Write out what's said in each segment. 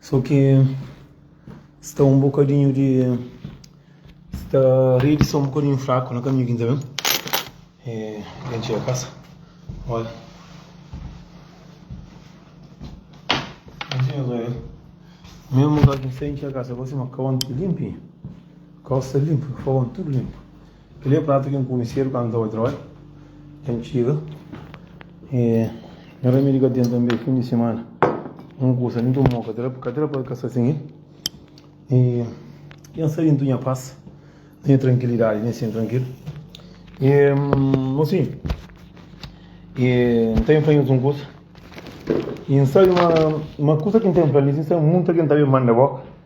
So ki sta um bocadinho de sta rede sta um bocadinho fraco na caminho aqui também e quem chega a casa olha mesmo lugar que sem chega a casa você uma cão limpinho calça limpa fogão tudo limpo Kel-li é pratu ki N kume sédu kantu N staba trabadja. N txiga y N rami di ka ten tanbe fin di simana. N kusa di ntoma un katera, katera pa kasa sin el. Y pensa di ntunha pas, ntunha trankilidadi di N sinti trankilu. Y mosinhu, y N ta ben fla nhos un kusa. Y N sabe ma kusa ki N ta ben fla-l li, N sabe ma munta ki N ta ben manda boka.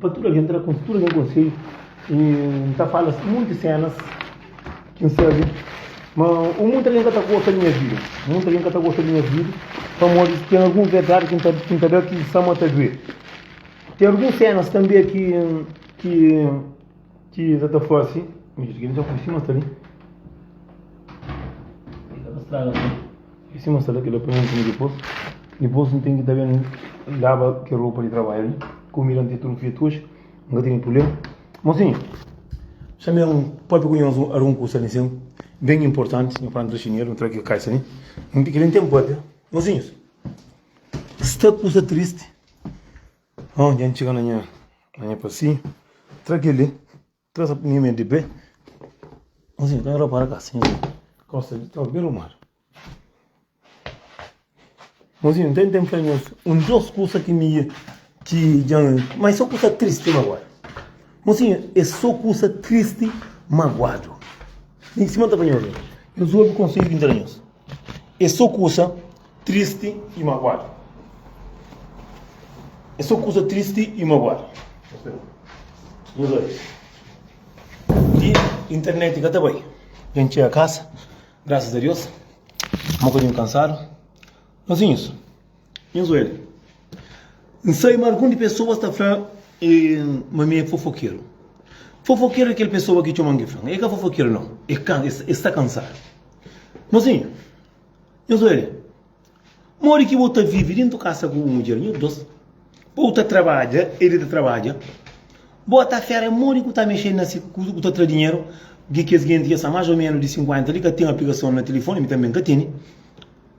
Pa tudu algen, N ta da tudu algen konsedju i N ta fala monti sénas ki N sabe. Má monti algen ka ta gosta di nha vida. Monti algen ka ta gosta di nha vida pamodi ten alguns verdadi ki N ta da ki sta-m a ta duê. Ten alguns sénas tanbê ki. Ki es ta fase midjor di kel dja fase mas ta li. Ki ka ta straga kel la. E si mas ta la kel la poi un pinu dipos. Dipos N ten ki ta ben laba kel ropa di trabadja li. Kumida N ten tudu fia tuoji. N ka tene prublema. Mosinhu, xa mi un pape ku nhos ar un kusa li nsin ben inportanti. Nho fla N tra xinelu, N tra kel kaixa li. Kel li N ten papia. Mosinhus, sta kusa tristi. Hon dja N txiga na nha na nha pasinhu Tra kel-li Tra sa punha mé di pé Nhu sen ka N rapara ka sen Nhu kosta di ta ben rumadu Nhu sen ten ten fé nhos un djos kusa ki mi ki dja N ma é so kusa tristi maguadu Nhu sen é so kusa tristi maguadu Nhu sen ta panha obi nhos obi konsedju ki N ta da nhos. É sô kusa tristi i magoadu. É sô kusa tristi i magoadu. Nhos bai. Di internet ka ta bai. Djen txega kasa, grasas a Deus. N bokadinhu kansadu. Nhos inhus. Nhos oi li. N sabe ma algun di pesoas ta fla ma mi é fofokeru. Fofokeru é kel pesoa ki txoma Ngiflan. El ka fofokeru, nau. El sta kansadu. Mozinhu, nhos oi li. Modi ki bo ta vive dentu kasa ku bu mudjer, nhos dos, pa bu ta trabadja, el ta trabadja, bo ta fera modi ki bu ta mexedu na si kuza ku ta tra dinheru, di kes genti ki el sta más o ménus di 50 li, ka ten aplikason na tilifoni, mi tanbe N ka tene.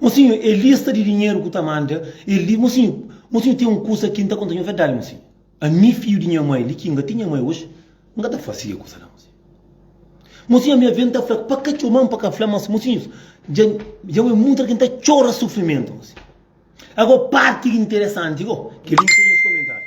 Mosinhu, e lista di dinheru ku ta manda e li. Mosinhu, mosinhu ten un kusa ki N ta konta nhu verdadi mosinhu. Ami, fidju di nha mai, li ki N ka tinha mai oji, N ka ta fase kel kusa la mosinhu. Mosinhu, ami avia N ta fla pa ka txoma-m, pa ka fla-m, mas mosinhus, dja dja N obi mutu algen ta txora sufrimentu mosinhu. Ago parti interesanti go, kel li N krê nhos komentadu.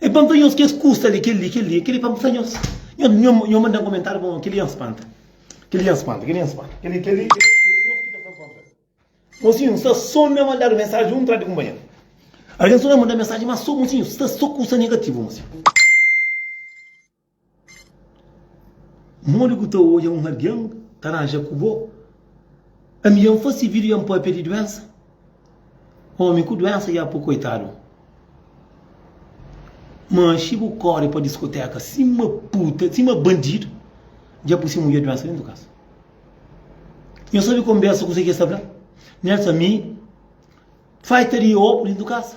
E panta nhos kes kusa li, kel-li, kel-li, e kel-li panta nhos. Nho manda kumentáriu pa un, kel-li nhos panta, kel-li nhos panta, kel-li nhos panta, kel-li, kel-li, kel-li é nhos ki ta sta kontra. Mosinhus sta sô na mandadu mensaji un tra di kunpanheru. Algen sta na manda mensaji, má sô, mosinhus, sta sô kusa negativu, mosinhus. Modi bu ta odja un algen ta ranja ku bo? Ami dja N fase vídiu dja N pâpia di duénsa. Ómi ku duénsa dja pô koitadu. Manxi bu kóre pa diskotéka sima puta, sima bandidu, dja bu se mudjer duénsa dentu kasa. Nhos sabe konbérsa kuzê ki es ta fla? Nhos ta fla, ami faita di obu dentu kasa.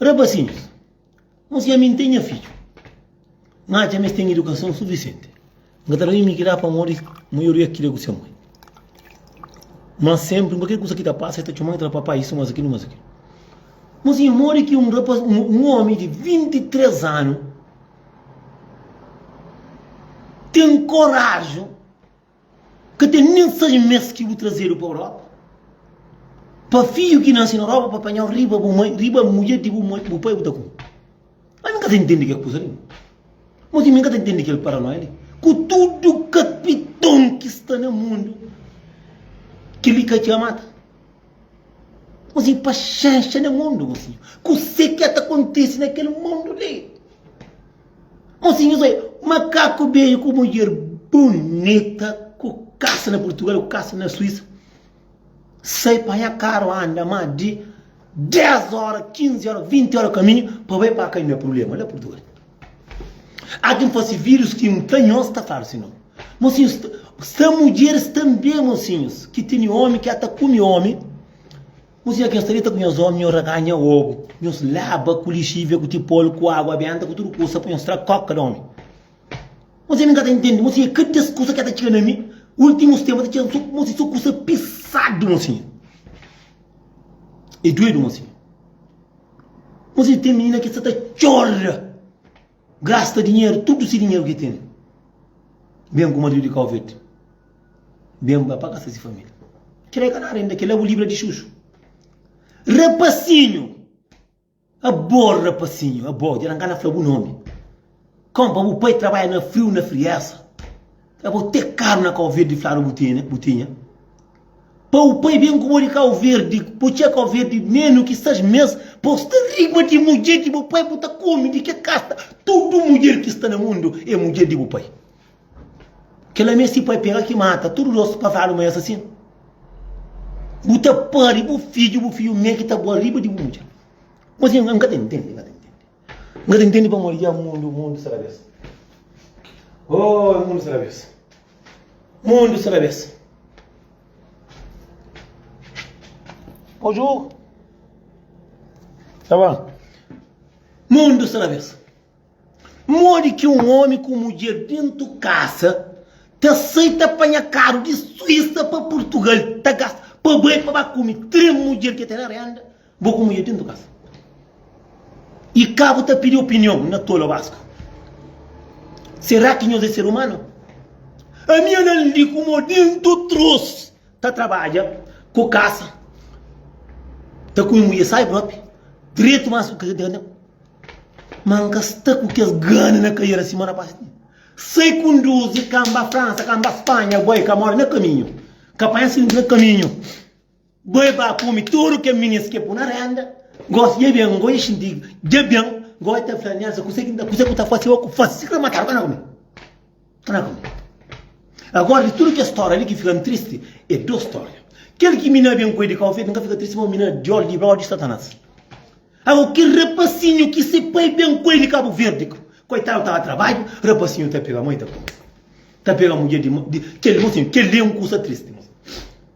Rapasinhus, N siâ mi N ten nha fidju, N atxa ma es ten idukason sufisienti. N ka ta da mimi ki dá pamodi maioria ki da ku se moi. Má sénpri, kualker kusa ki ta pasa, es ta txoma-m i ta fla, Papai, isu más akilo, más akilo. N siâ modi ki un rapaz, un ómi di 23 anu ten koraji. Ka ten nen sais mes ki bu trazedu pa Europa, pa fiju ki nase na Europa pa panjau riba bu mai, riba mudjer di bu mai, bu pai bu ta kume. Mas mi ka ta intendi kel kusa li. Moti mi ka ta intendi kel paranoia li. Ku tudu kapiton ki sta na mundu, kel li ka txa mata. Mozinho, paxenxa na mundu, mozinho. Kuse ki ta kontise na kel mundu li? Mosinhus oi, makaku beju ku mudjer bunita, ku kasa na Purtugal, ku kasa na Suísa, sai panha karu anda más di 10 óra, 15 óra, 20 óra kaminhu pa bai pa Kaina. Prubléma la Purtugal, ati N fase vidjus ki N ta nhos ta fladu si nau. Mosinhus, sta mudjeris tanbe mosinhus ki tene ómi ki ata kume ómi. Kuzê ki nhos ta dita ku nhos ómi, nhos ragá nha obu, nhos laba ku lixívia, ku tipolu, ku água benta, ku tudu kusa pa nhos tra kóka di ómi? Kuzê mi n ka ta intende, mon sinha? Kada es kusa ki el ta txiga na mi, últimus ténpu el ta txiga-m sô, mon sinha, sô kusa pisadu, mon sinha. É duedu, mon sinha. Mon sinha, ten minina ki sta ta txora. Grasta dinheru, tudu si dinheru ki tene. Ben ku maridu di kau verdi. Ben ba pa kasa si família. Kel la é ka nada inda, kel la é bu libra di xuxu. Rapasinhu! Abo rapasinhu, abo, dja nan ka na fla bu nomi. Kon pa bu pai trabadja na friu, na friesa. É bo te karu na kau verdi fladu bu tene bu tinha Pau pai ben ku bo di kau verdi bu txê kau verdi menu ki sais mes Pau sta riba di mudjer di bu pai bu ta kome di ke kasta Tudu mudjer ki sta na mundu é mudjer di bu pai Kela mes si pai pega ki mata tudu dos pa fladu ma é asasin Bu ta pari bu fidju bu fidju me ki ta bua riba di bu mudjer Mas N ka ta ntende N ka ta ntende. N ka ta intende pamodi dja mundu, mundu sa rabes. Oh, é mundu sa rabes. Mundu sa rabes. Ojo. Tá bom? Mundu sa rabes. Modi ki um homem com mulher dentro de casa te aceita apanha caro de Suíça para Portugal, tá gasta, para bem, para comer, três mulher que tem na renda. Bo ku mudjer dentu kasa y ka bu ta pidi opinion na tolo basku. Sera ki nhos e ser umano? Ami a nan li kuma dentu trus ta trabadja ku kasa, ta kume mudjer sai propi dretu mas ku kasa dentro. Ma nka sta ku kes gana na kariera sima na pasti. Sai kunduzi ka mba Fransa, ka mba Spanha, boi ka mora na kaminhu, ka panha asidenti na kaminhu. Bo e ba kome tudu kel minis ke bu na renda gosi dje ben go dje xinti dje ben go e ta fla nel sa kuse ki nta kuse ku ta fase oku fase si kre matadu kana kome kana kome agora di tudu kes storia li ki fikan tristi e dos storia kel ki mi na ben ku e di kau fetu nka fika tristi pamodi mi na diol di blau di satanas ago kel rapasinhu ki se pai ben ku e di kabu verdi koitadu tava trabadju rapasinhu ta pega moi ta kome ta pega mudje di kel mosinhu kel li e un kusa tristi mosinhu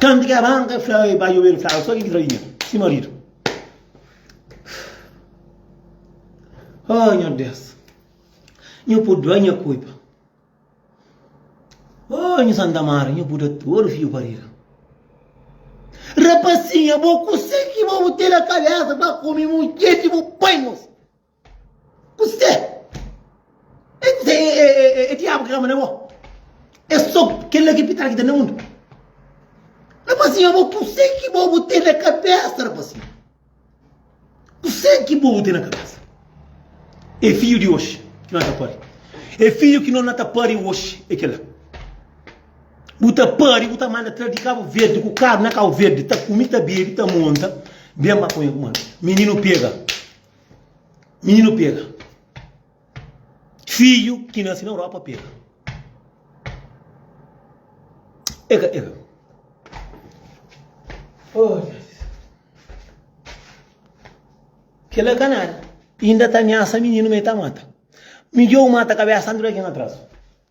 Kantu ki Abraon fla, Oi, bai obedu, flaba, Sô ki ki ta faze nha, si maridu? Ô nha Deus, nhu púrdua nha kulpa. Ô nhu Santa Mari, nhu bu da tudu fiju parida. Rapasinha, bo kuse ki bo bu ten na kabésa pa kome mudjer ki bu pai-nos? Kuse? E kuse e diabu ki ta manda bo? E so kel la ki pitar ki ta na mundu. Rapazinho bo kuse ki bo bu ten na kabesa rapazinho? Kuse ki bo bu ten na kabesa? E fiju di oxi ki no ta pari. E fiju ki no na ta pari oxi e kel la. Bu ta pari bu ta manda tra di Kabu Verdi ku karu na Kabu Verdi ta kumi ta bebi ta monta ben ba ponha ku manu. Mininu pega. Mininu pega. Fidju ki nase na Europa pega. Ega, ega. Oh, Deus. Kela ka nada. Inda ta ameasa mininu, ma e ta mata. Midjor mata kabesa anti di algen atrasu.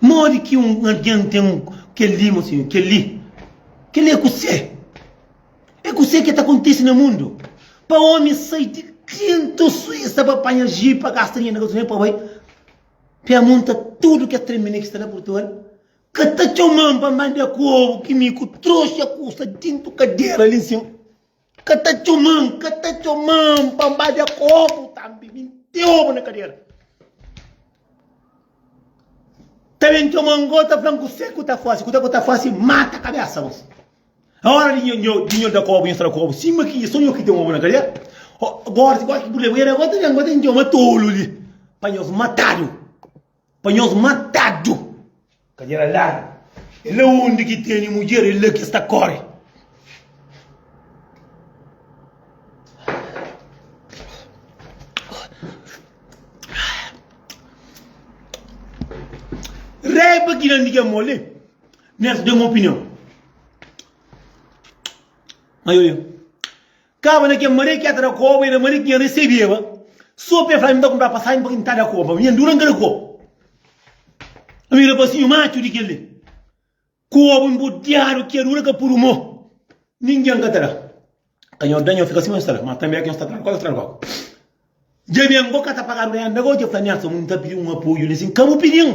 Modi ki un algen ten un kel-li, mon senhor? Kel-li, kel-li é kusé? É kusé ki ta kontise na mundu? Pa ómi sai di Klintu, Suísa, pa panha jipi, pa gasta dinheru na gasolina, pa bai pia munta tudu kes trenbine ki sta na Portugal, ka ta txoma-m pa manda kobu ki mi ku troxa kusa dintu kadera li nsima. Ka ta txoman, ka ta txoman pa N ba dja kobu tambi, mi nteobu na kadera. Ta ben txoman go, ta flan kuse ku ta fase, kuse ku ta fase, mata kabesa bos. Na ora di nho da kobu, nho sta da kobu, sima ki so nho ki ten obu na kadera, gora si kualke purblema, era go ta ben, go ta ben txoma tolu li pa nhos matadu. Pa nhos matadu. Kadera largu. É la undi ki teni mudjer, é la ki es ta kóre. Raiba ki dá-m di ki é moli, li nhos da-m opinion. Maioria. Kaba na kel Maria ki ya ta da koba, era Maria ki nha resebeba so pa el fla mi, N ta kunpra pasajen pa ki N ta da koba. Nha ndura N ka da koba. Ami rapasinhu matxu di kel-li, koba nbodiadu ki adura ka puru mo, ningen ka ta da. Ka nha da, nha fika sima N sta la, ma tanbe ka nha sta tra-l kóka, N sta tra-l kóka. Dja ben, bo ka ta pagadu rénda gau? Dja fla Nelson, N ta pidi un apoju li sin, ka bu pidi-m.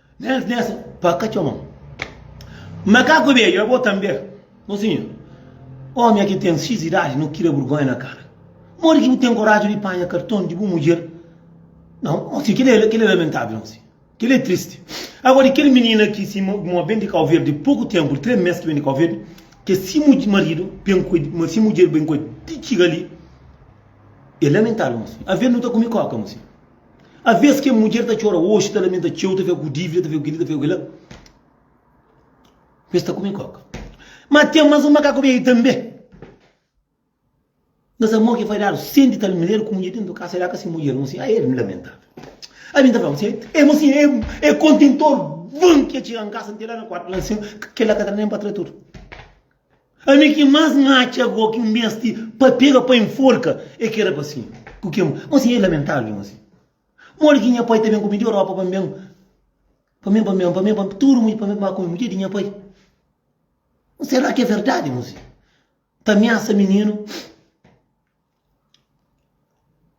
Nens nens pa ka txoman. Makaku bedju é bo tanbê? Mosinhu, ómi aki ten xis idadi no kira burgonha na kara. Modi ki bu ten koraji di panha karton di bu mudjer? Nau, mosinhu, kel-li é, kel-li é lamentável, mosinhu. Kel-li é tristi. Agóra, di kel minina ki si ma ben di Kauverdi poku ténpu, di três mês ki ben di Kauverdi, ke si maridu ben ku el, ma si mudjer ben ku el di txiga li, é lamentável, mosinhu. Alvês nu ta kume kóka, mosinhu. Aves kel mudjer ta txora oxi, ta lamenta txeu, ta fika ku dívida, ta fika ku kel-li, ta fika ku kel-la, pa es ta kume kóka. Má ten más un makaku bia-i tanbe. Nhos amor ki é fadadu, senti tal manera ku mudjer dentu di kasa, el aka se mudjer. Mô siñor, ai, el lamentável. Ai, mi ta fla-m sen, e mô siñor, el é kontentor, van ki el txiga nkasa, nte la na kuartu, la nsin, kel-la ka tra nen pa tra tudu. Ami ki mas N atxa go ki N bens ti pa pega pa enforka e ki era pa si ku kemu. Mo si e lamentável mo si. Modi ki nha pai ta ben ku mi di Europa pa N ben pa mi pa mi pa mi pa tudu mudjer pa mi ba ku mudjer di nha pai. Mo sera ki e verdadi mo si ta miasa mininu.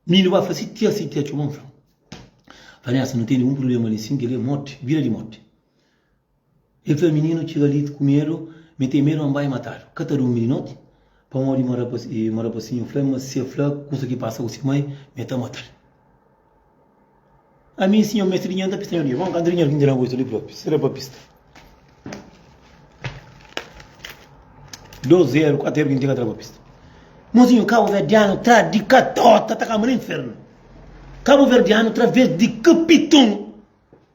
Mininu ba fla, sitia, sitia, txeu ba-m fla. Fla, Nélson, nu tene un prubléma li sin, kel-li é moti, bira di moti. El fla, Mininu txiga li ku medu, mi ten medu ma N bai mata-l. Ka ta durmi di noti, pamodi ma rapasinhu fla-m ma si el fla kusa ki pasa ku se mai, mi ta mata-l. Ami si nha mestrinha nta pista na dia Bon kantri nha vinda na goita li propi sera pa pista Dos eru kuatu eru ki ntinga tra pa pista Mozinhu kabuverdianu tra di katota ta kamba na infernu Kabuverdianu tra vez di kapitunu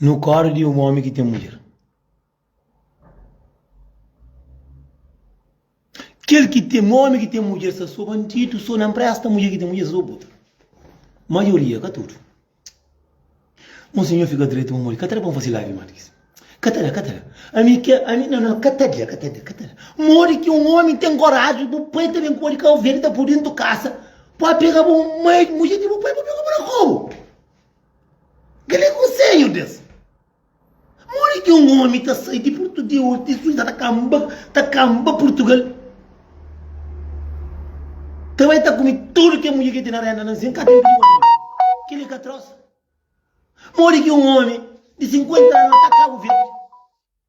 Nu kóre di un ómi ki ten mudjer. Kel ki ten ómi ki ten mudjer sta sô bandidu, sô na npresta. Mudjer ki ten mudjer sta sô puta. Maioria, ka tudu. Un sinhor fika dretu pa modi. Ka ta da pa N fase live más di kes. Ka ta da, ka ta da. Ami ke, ami, no, no, ka ta da, ka ta da, ka ta da. Modi ki un ómi ten koraji, bu pai ta ben ku bo di Kabo Verde, ta pô-u dentu kasa, pa pega bo mai mudjer di bu pai, pa pega bo na kobu? Kel-li é konsedju di es. Modi ki un ómi ta sai di Portu di Urti di Suísa ta kanba, ta kanba Portugal? Ta bai ta kume tudu ki mudjer ki ten na rénda na Anzin? Ka ten ki obi li. Kel-li ka atros? Modi ki un ómi di 50 anu ta kaba uverdi?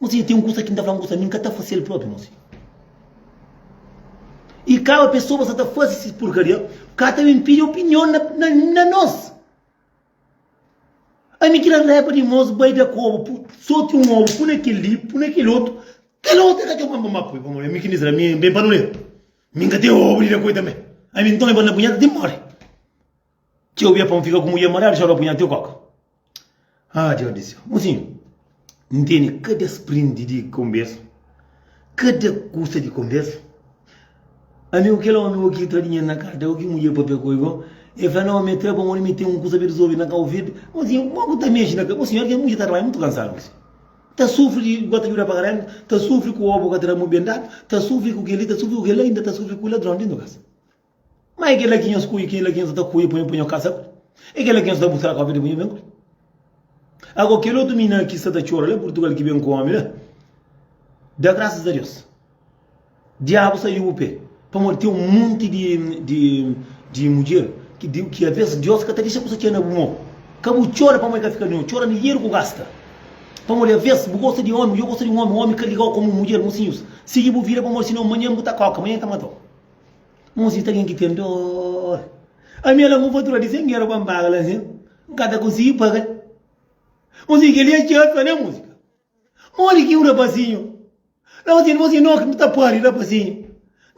Mosi, ten un kusa ki N ta fla ngosi, ami N ka ta fase-l propi, mosi. I kaba pesoba sa ta fase si purkaria, ka ta ben pidi opinion na nos. Ami ki na repa di mos bai da kobu, soti un obu, pune kel li, pune kel otu, kel otu e ka txeu pampa ma pui, pamodi ami ki Nizra, ami ben pa nu le, mi N ka ten obu di da koi tanbe, ami nton e bai na bunheta ti N mori. Txeu bia pa un fika ku mudjer ma dadu xaropi nha tio koka ah Deus di séu mosinhu N tene kada sprindi di konbersa kada kusa di konbersa Amigu kel omi o ki tra dinheru na karta o ki mudjer pâpia ku el go el fla nau mi tra pa un mi ten un kusa bem resolvidu na kau verde mosinhu kuma bu ta mexi na mosinhu óra ki es mudjer ta trabadja mutu kansadu mosinhu ta sufri di gosi ta djuda paga renta ta sufri ku obu ka ta da mu ben dadu ta sufri ku kel li ta sufri ku kel la inda ta sufri ku ladron di nu kasa. Ma é kel-la ki nhos kuia, kel-la ki nhos ta kuia pa nhu, pa nhu kasa ku el. É kel-la ki nhos ta busca kópia dipôs nhu ben ku el. Ago, kel otu minâ ki sta ta txora la Purtugal ki ben ku ómi la, da grasas a Deus, diabu saiu bu pé, pamodi ten un monti di, di, di mudjer ki, di, ki alvês Deus ka ta dexa kusa txeu na bu mô. Ka bu txora pamodi el ka fika di nhu, txora lijeru ku gasta. Pamodi alvês bu gosta di ómi, dja gosta di un ómi, ómi ka ligau komu un mudjer, mosinhus, sigi bu vida pamodi sinon manhan bu ta kóka, manhan el ta mata-u. Mon si ta algen ki ten dor. Ami a langa un fatura di 100 euro pa N paga la sen N ka ta konsigi paga-l. Mon si kel-li é txeu pa ne, mon si. Modi ki un rapazinhu la pa txeu-l, mon si. No, ki N ta pâpia rapazinhu.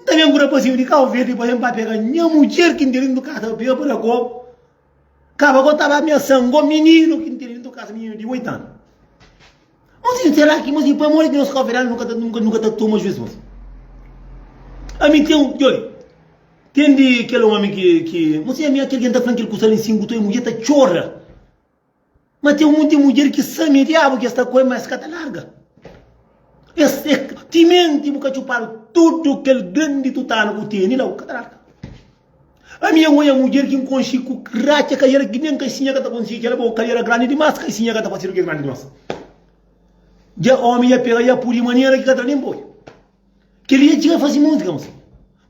N ta ben ku rapazinhu di Kau Verdi pa ben pa pega nha mudjer ki N di li N ka ta pega pa da komu. Kaba go tava ameasan go mininu ki ntende nto kasa mininu di 8 anu. Mas sin será ki mas pa modi ki nos coveral nunca ta nunca nunca ta toma juiz mas. Ami tem um jole. Tem de aquele homem que que mas é minha aquele que tá falando que ele custa em cinco tu é mulher tá chora. Ma ten monti mudjer ki sabe ma é diabu ki es ta ku el, ma es ka ta larga. Es é timenti, bu ka txupadu tudu kel grandi tutanu ku tene la, bu ka ta larga. Ami N oja mudjer ki N konxe ku ratxa, kaiera ki nen kaisinha ka ta konxi ki el bo, kaiera grandi dimas, kaisinha ka ta fasidu ki é grandi dimas. Dja ómi dja pega, dja pudi manera ki ka tra nen boi. Kel dia el txiga faze múzika, ma se.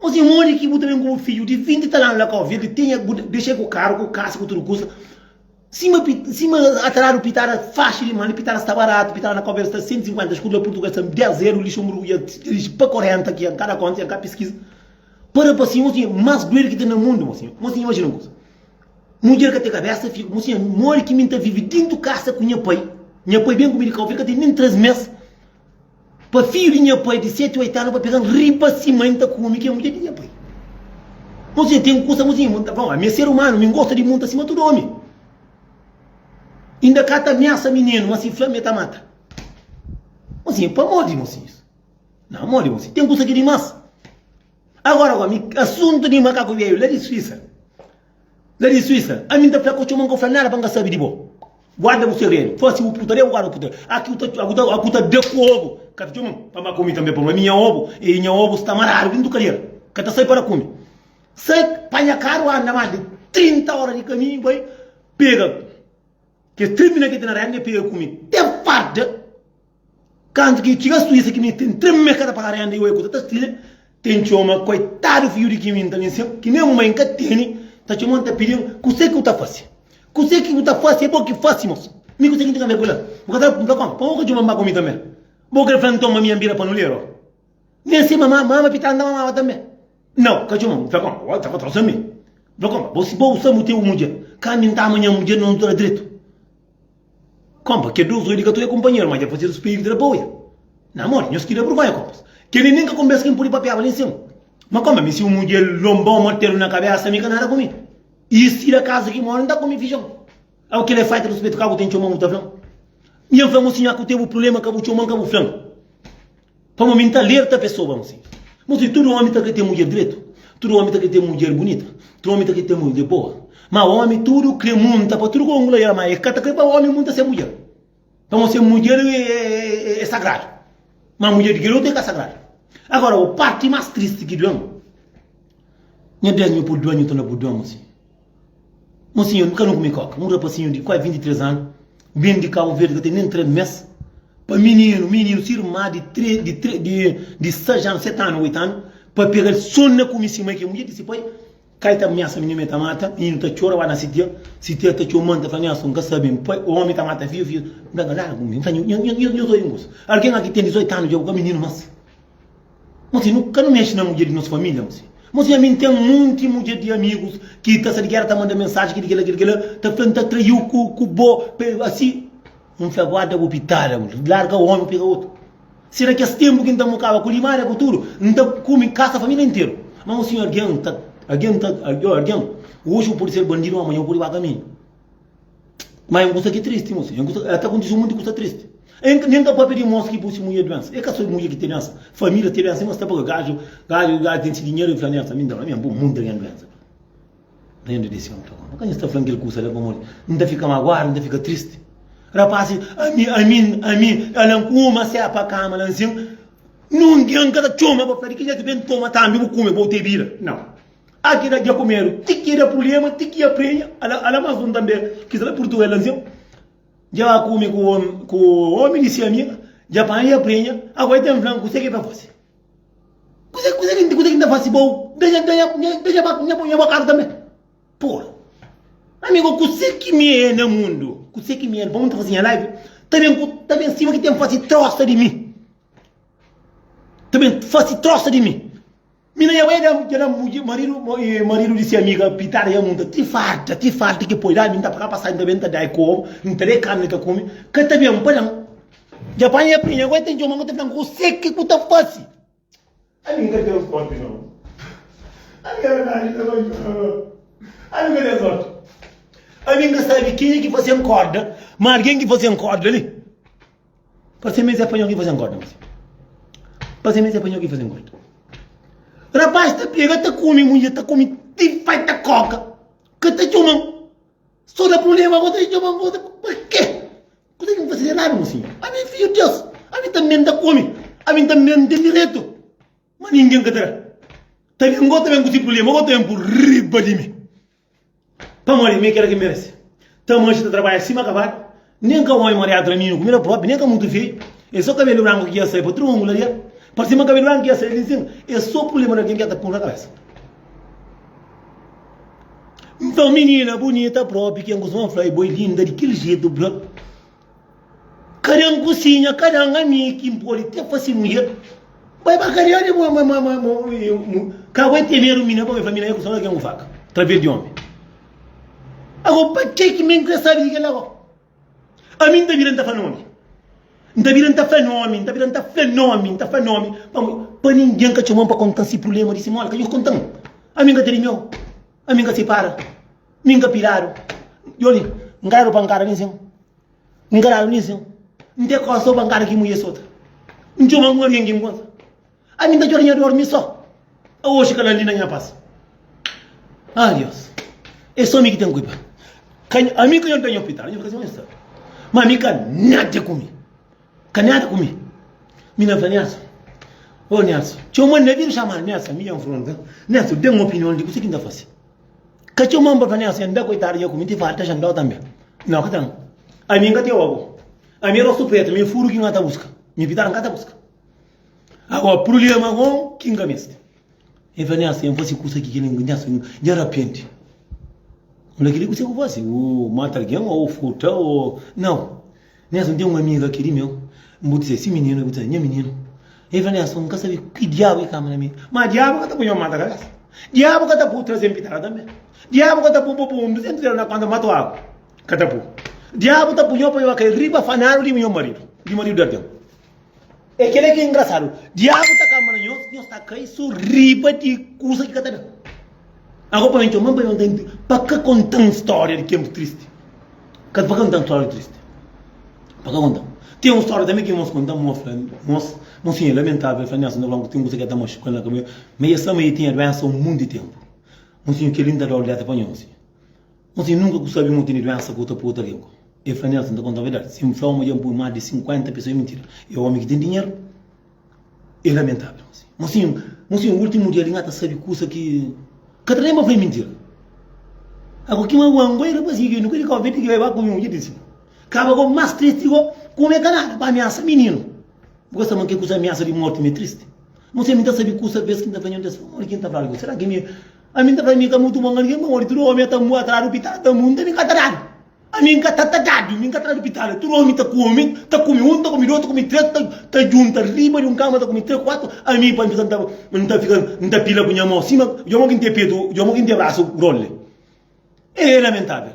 Má se móre ki bu ta ben ku bu fidju di vinti i tal anu la ka obi-l, ta tinha bu dexa-l ku karu, ku kasa, ku tudu kuza. Sima sima ataradu pitada faxi di mali, pitada sta baratu, pitada na ka obi-l sta sentu sinkuenta, skudu la purtuges sta dés eru, lixu murgu dja dixi pa korenta ki el ka da konta, el ka piskiza. Pa rapazinhu, mosinha más duedu ki ten na mundu, mosinha. Mosinha imajina un kuza. Mudjer ka ten kabésa, fika. Mosinha, móre ki mi N ta vive dentu kasa ku nha pai. Nha pai ben ku mi di ka obi-l ka ten nen três mês. Pa fidju di nha pai di seti, oitu anu pa pega-m riba si mai N ta kume ki é mudjer di nha pai. Nos dja ten kusa amuzinhu, ma N ta fla-m, Ami é ser umanu, mi N gosta di munta sima tudu omi. Inda ka ta amiasa mininu, ma si fla-m el ta mata. Mosinhu, Pamór di mosinhus, na amor di mosinhus, ten kusa ki é dimás. Agora, omi, asuntu di makaku beiu la di Suísa. La di Suíça, ami n ta fla ka txoma n ka fla nada pa n ka sabi di bo. Guarda bu segredu, fasi bu puta, deba guarda bu puta. Aki bu ta, bu ta, bu ta da ku obu, ka ta txoma-m pa ba ku mi tanbe, pamo ami nha obu e nha obu sta maradu dintu kadiera, ka ta sai para ku mi. Sai, panha karu, anda mas di 30 ora di kaminhu, bai pega kes três mina ki ta na renda, e pega ku mi te farda. Kantu ki txiga stu esa ki mi ten treme kada pa renda i oi ku ta tastile ten txoma koitadu fidju di ki mi nta bin sen ki nen mai nka tene ta txomau nta pidil kuse ki bu ta fase kuse ki bu ta fase e bo ki fase mos mi kuse ki nta ka me kula bu ka ta npla kon pa bo ka txoman ba ku mi tanbe bo kre flan ntoma mi an bira panulero ok nen si mama mama pi tanta mamaba tanbe nau ka txoman npla kon bo ta ba trosa mi npla kon bo si bo usa bu te bu mudjer ka mi nta manha mudjer no ntura dretu. Kompa, kel Deus redi ka ta oia kunpanheru, ma dja fasedu spiritu da pa oia. Na modi? Nhos ki da bruvonha, kompas. Keli nen ka konbesa kin pudi papiaba nen semu. Ma kompa, mi si un mudjer lonbon, martedu na kabesa, mi ka nada ku mi. I si da kaza ki mora, N ta kumi fijon. Au, kel é faita ruspetu ka bu ten txoman, bu ta flan. I N fla-m, Osi nha ku tebu prulema, ka bu txoman, ka bu flan. Pamo mi nta alerta pesoba mi si. Bo si tudu omi ta kre ten mudjer dretu, tudu omi ta kre ten mudjer bunita, tudu omi ta kre ten mudjer boa, ma omi tudu kre munta pa tudu kongu la el ma e ka ta kre pa omi munta se mudjer. Pamo se mudjer e sagradu, ma mudjer di kel otu e ka sagradu. Agora o parti mas tristi ki duem, nha duenhu pul duenhu ta na bu duenhu si. Mosinhu, N ka nu kume kóka. Un rapasinhu di kuazi 23 anu ben di Kabu Verdi ka ten nen 3 mês pa mininu, mininu, si irma di 3, di 3, di, di 6 anu, 7 anu, 8 anu, pa pega-l son na kume si mai ki é mudjer di si pai. Kai ta miasa mininu, el ta mata. Mininu ta txora, ba na si tia. Si tia ta txoma-l, ta fla, Nha son, N ka sabe. N pai, ómi, ta mata fidju, fidju. N fla, Largu mi, N ka, nhu, nhu, nhu, nhu, nhu ta oi un kusa. Algen la ki ten 18 anu dja bu ka mininu más. Mose, Nu ka nu mexe na mudjer di nos família, Mose. Mose, Ami N ten monti mudjer di amigus ki ta sta di géra, ta manda mensaji ki di kila, ki di kila, ta fla-m ta traiu ku bo, pa asi N fla, Guarda bu pitada, Mose, larga omi, pega otu. Si na kes ténpu ki N ta mokaba ku limária, ku tudu, N ta kume kasa família interu. Má, Mose, algen ta, algen ta, algen, oji bu pode ser bandidu, má amanha bu pode ba kaminhu. Mas é un kusa ki tristi mosi. É ta kontise un monti kusa tristi. É nen ka papia di mosi ki poi si mudjer duensa. É ka so mudjer ki ten duensa. Família ten duensa. É mostra pa gadju, gadju, gadju ten si dinheru e fla duensa. Mi nta, mi nta poi monti algen duensa. Nta entri desi omi ta konta. Ka nhos ta fla-m kel kusa la pamodi N ta fika maguadu, N ta fika tristi. Rapaz si, ami, ami, ami, a lan kuma se pa kama la nsin. Nungen ka ta txoma pa fla di ki jetu ben toma tambi bu kume, bo te bira. Nau. A ki da dja ku medu. Ti ki da prublema, ti ki aprenha. Ala mas un tanbe ki sta la Purtugal la nsiu. Dja kume ku omi, ku omi di si amiga, dja panha i aprenha. Agora i ta n'flan kuse ki ta fasi. Kuse, kuse ki, kuse ki n'ta fasi bou? Da dja, da dja, da dja, da dja ba, nha, nha ba karu tanbe. Pura. Amigo, kuse ki mi e na mundu? Kuse ki mi e? Bo mi ta fasi nha live? Ta ben ku, ta ben sima ki ten fasi trosa di mi. Ta ben fasi trosa di mi. Mina ya bai da ya da mudjer marido marido di si amiga pitada ya munta ti farta ti farta ki poi dami nta paga passagem ta ben ta dai kobo nta dai carne ta come ka ta ben pa nan ya panha ya prinha agora ta tchoma ku ta fla kuse ki ku ta fasi ami nka ten sorte no ami ya na di na bai tchoma no ami nka ten sorte ami nka sabi kenha ki fasen korda ma algin ki fasen korda li. Pase mezi é panhau ki faze-m gorda mezi Pase mezi é panhau ki faze-m gorda Rapaz ta pega ta kome Mudjer ta kome ti fai ta koka Ka ta txoma-m So da prublema Bo ta txoma-m Bo ta txoma-m Pa ke? Kuze ki N fase di eradu mo sinhor? Ami é fidju di Deus Ami tanbe N ta kome Ami tanbe N ten direitu Ma ningen ka ta da Ta ben Bo ta ben ku se prublema Bo ta ben pur riba di mi Pamodi mi é kel ki merese. Tamashi ta trabadja sima kabadu. Nen ka oi mariadu na ninhu kumida propi, nen ka mutu feyu. É so kabelu branku ki dja sai pa triungula di el. Pa sima kabelu branku ki dja sai di sin, é so prublema di algen ki dja ta pun na kabesa. Nton, minina bunita propi, ken ku suma fla-i bo é linda di kel jetu, bro. Kada un kusinha, kada un ami ki N pode te fase mudjer. Bai pa karia di bo, ma ka bai te medu mina, pabia família nha ku sodja ken ku faka traver di omi. Ago pa ke ki mi N kre sabi di kel la go? Ami N ta bira N ta fla nomi, N ta bira N ta fla nomi, N ta bira N ta fla nomi, N ta fla nomi, pamodi pa ningen ka txoman pa kontan si prublema di si mol, ka djobe kontan, ami N ka ta di miau. Ami nka sipara, mi nka piladu. Yo li, nka dadu pankada nin sin, nka dadu nin sin. N te kosa o pankada ki mudjer sota. N txoma algun algen ki N konsa. Ami nta txora nha dor mi so. Aoxi kal ali na nha pas. Ah, Dios, e so mi ki ten kuipa. Ami ka nta nha opital, nha fika sin, ma mi ka nada ku mi. Ka nada ku mi. Mi na fla Nelson, Ô Nelson, txeu ma N na bira txamal Nelson. Mi ben fronta, Nelson, da-m opinion di kuse ki N ta fase. Ka txeu ma N ba fla Nelson, N-da koitadu dja ku mi, N ti fala ta xandau tanbe. Nau ka ta N. Ami N ka teo abo. Ami é rostu pretu, mi é furu ki N ka ta buska. Mi pitadu N ka ta buska. Ago, prulema gon ki N ka meste. N fla, Nhasa, N fase kusa ki kel. Nhasa, N dja rapienti. N fla, Kel-li kuzê ki bu fase? Bu mata algen ô bu furta ô. Nau. Nhasa, N ten un amiga ki é di meu. N bu dise si mininu, el bu dise nha mininu. El fla, Nhasa, N ka sabe ki diabu ki kaba na mi. Má diabu ka ta poi-m mata kabésa. Diabu ka ta pô-u traze un pitada tanbê. Diabu ka ta pô-u pô un duzentus dóla na kónta pa mata-u agu. Ka ta pô. Diabu ta punha-u pa nho ka el riba fanáriu di minha maridu, di maridu di algen. É kel-la ki é ingrasadu. Diabu ta kanba na nhos, nhos ta kai so riba di kusa ki ka ta da. Ago pa mi txoma-m pa mi konta-m di pa ka konta-m stória di tenpu tristi. Ka pa ka konta-m stória tristi. Pa ka konta-m. Ten un stória tanbe ki irmons konta-m, un a fla, Nos, mon sinha é lamentável. El fla, Nelson, ta fla-m ku ten kusa ki ka ta maxuka-l na kamion. Ma es fla ma el tinha duénsa un monti di tenpu. Mon sinha, kel-li N ta da-u létra pa nhos. N sin nunka ku sabi ma bu tene duensa ku ta purta lingua. E fla, Nelson ta konta-m verdadi. Si N fla-u ma dja N pui más di 50 pesoa é mintira. E omi ki ten dinheru é lamentável. Mo sin, mo sin últimu dia li N ka ta sabe kusa ki. Ka ta ten pa fla é mintira. Agu ki magua-m ku e rapazinhu ki nunka di Kau Verdi ki bai ba ku mi un dia di nsigu. Kaba gobi más tristi go ku mi ka nada pa amiasa mininu. Bu ka sta ma kes kusa amiasa di morti mi é tristi? Mo sin mi ta sabe kusa bes ki N ta fla nhontes famodi ki N ta fla algu. Sera ki mi. Ami n ta fla, Mi ka mutu bon algen pamodi tudu omi a ta mô atrás di pitala, ta mô un ta mi ka ta dadu. Ami n ka ta ta dadu, mi n ka ta dadu pitala. Tudu omi ta kome, ta kome un, ta kome dos, ta kome tres, ta ta djunta riba di un kama, ta kome tres, kuatu. Ami pa n fika, n ta fika, n ta pila ku nha mô sima, dja mô ki n ten petu, dja mô ki n ten brasu grande. E lamentável.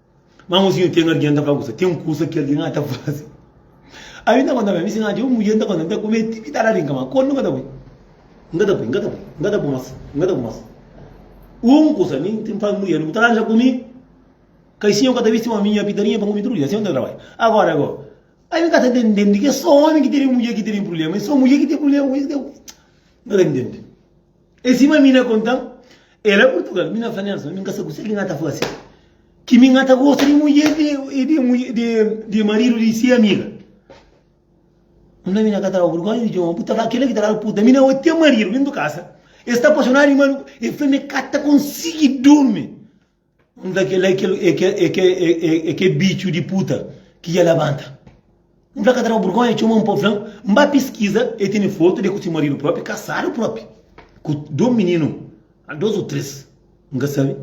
Má un sinhu tene algen ta fla kusa. Ten kusa ki algen ka ta faze. Ami N ta konta ma mi si N atxa un mudjer N ta konta, N ta kumeti mi ta da rinka. Má kónde N ka ta bai? N ka ta bai, N ka ta bai, N ka ta bai más, N ka ta bai más. Un kusa mi N fla mudjer ku ta lanja ku mi kai sinhu ka ta bisti ómi nha pitarinha pa N kume tudu dia. Sinhu N ta trabadja. Agora go, ami N ka ta intende ke sô ómi ki tene mudjer ki tene prubléma. É sô mudjer ki ten prubléma ku es. N ka ta intende. E sima mi na konta-m, e la Purtugal, mi na fla nelis ma mi n ka sta ku se, ki N ta fase? Ki mi N ta gosta di mudjer di maridu di se amiga? N fla, mi na ka ta daba burgónha di djoba, bu ta fla kila ki ta daba puta, mi na odi ten maridu, mi n tu kasa. E sta apaxonadu di maridu, e fla ma e ka ta konsigi durmi Nta kel la é kel bitxu di puta ki dja labanta. N fla ka ta daba burgonha txoma-m pa bu fla-m. N ba piskiza, el tene fotu d'el ku se maridu propi, kasadu propi, ku dos mininu, dos o tres, N ka sabe.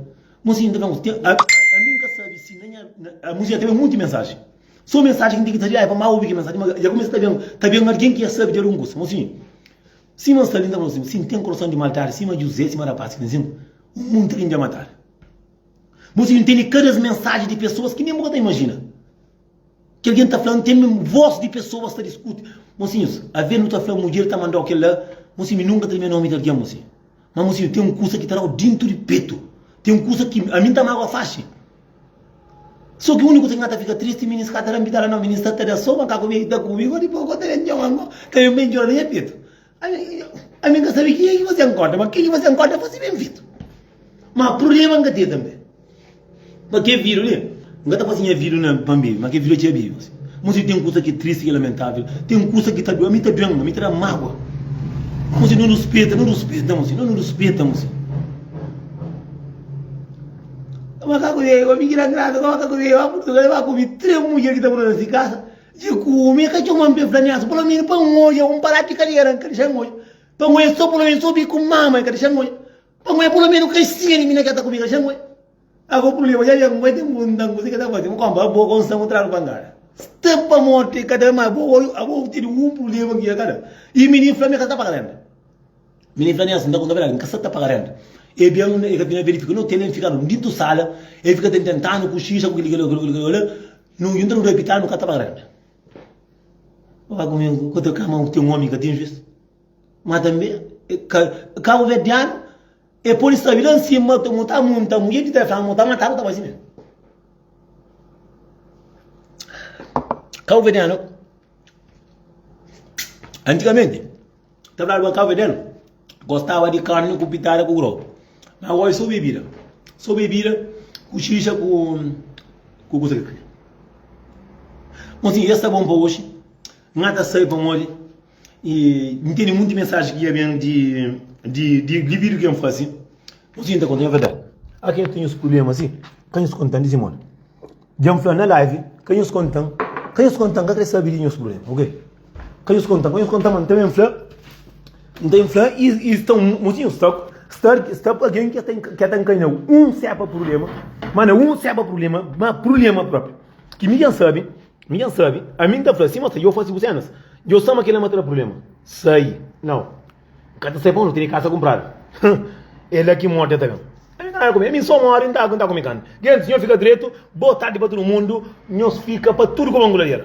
Mozinha ta fla-m, ami N ka sabe si na nha. Mozinha ta ben monti mensaji, so mensaji ki N ten ki ta riba, ai pa má obi kel mensaji, má dja kumesa ta ben algen ki dja sabe dja di un kusa. Mozinha. Sima N sta li, N ta fla sin, Si N ten kurason di maldadi sima Juzé, sima rapás ki N sina, un munti algen dja matadu. Bo sibi N tene kada es mensaji di pesoas ki nen bu ka ta imajina. Kel algen ta fla, N ten mim vos di pesoas ta diskuti. Mosinhus, avês nu ta fla mudjer ta manda-u kel-la, bo sibi nu nunka ta limia nomi di algen, bo sibi. Má, mosinhu, ten un kusa ki ta da-u déntu di petu. Ten un kusa ki ami N ta mágua faxi. Só ki úniku N ta fika tristi, mi N ska ta da-m pitala nau, mi N sta ta da sopa, N ka kume ki ta kume, gó dipôs gó ta ben txoma ngó, ta ben bai ndjora na nha petu. Ami, ami N ka sabe kika ki fasê N korda, ma kika ki fasê N korda fase ben fetu. Má prubléma N ka ten tanbe, ma kel vidu li, N ka ta fase nha vidu na, pa mi, ma kel vidu atxeba iu. Mos di ten kusa ki é tristi, ki é lamentável, ten kusa ki ta doi, ami ta doi-m, ami ta da-m mágua. Mos di no ruspeta, no ruspeta, mos di no, no ruspeta, mos di. Mas ka ku dei, omi ki da ngrasa, kama ka ku dei, ba Purtugal, e ba kume tres mudjer ki ta mora na si kasa, e kume, e ka txoman p'e fla niasa, palo menu pa N odja un palat di kaliera, N ka dexa N odja, pa N oja so, palo menu so biku N mama, N ka dexa N odja, pa N oja palo menu un kaxinha di mina ki el ta kume, N ka dexa N odja. Ago prulema dja ben, N bai ten bu, N ta-m kuze ki el ta fasi, N konpa abo ku ansan ku tradu pangada. Sta pa morti, e ka ta ben, ma abo, abo tene un prulema ki el ka da, i minin fla-m, e ka ta ta pa kalenta. Mi nem fla nem assim, tá conta verdade, mi ka sa ta paga renta. E bem, e ka tinha verifica, não tem nem ficar no dito sala, e fica tem tentando com xixi, com aquele, aquele, aquele, não entra no repitar, não ka ta paga renta. Vai comigo, quando eu cama, tem um homem que tem juiz. Mas também, cabo verdeano, e por isso, lá em cima, tu montar, montar, mulher de telefone, montar, matar, tá assim mesmo. Cabo verdeano, antigamente, Ta bla ba kave del Gostaba di karni ku pitada ku grogu Ma oji so bebida So bebida ku xixa ku Ku kusa ki kri Bon si es ta bon pa oji N ka ta sai pamodi E N tene munti mensaji ki ya ben di Di di di bidu ki N fasi Bon si N ta konta nha verdadi Aki N ta nhos prublema si Ka nhos kontandi si modi Dja n fla na live, ka nhos kontan, ka nhos kontan, ka kre sabe di nhos problema, ok? Ka nhos kontan, ka nhos kontan, ma n ta ben fla, n ta ben fla i i sta un motinhu stak, stak sta pa algen ki ka ta nkanha un sepa problema, ma na un sepa problema, ma problema propi. Ki mi dja n sabe, mi dja n sabe, ami n ta fla, sima sta dja u fasi bu senas, dja u sama kila ma ta da problema, sai, nau. N ka ta sai pa onzi, tene kasa kunpradu. Hum, é la ki morti ta ben. N ka nada ku mi, mi so mori, N ta aguenta ku mi kantu. Gentis, nho fika dretu, Boa tardi pa tudu mundu, nhos fika pa tudu ku manguladiera.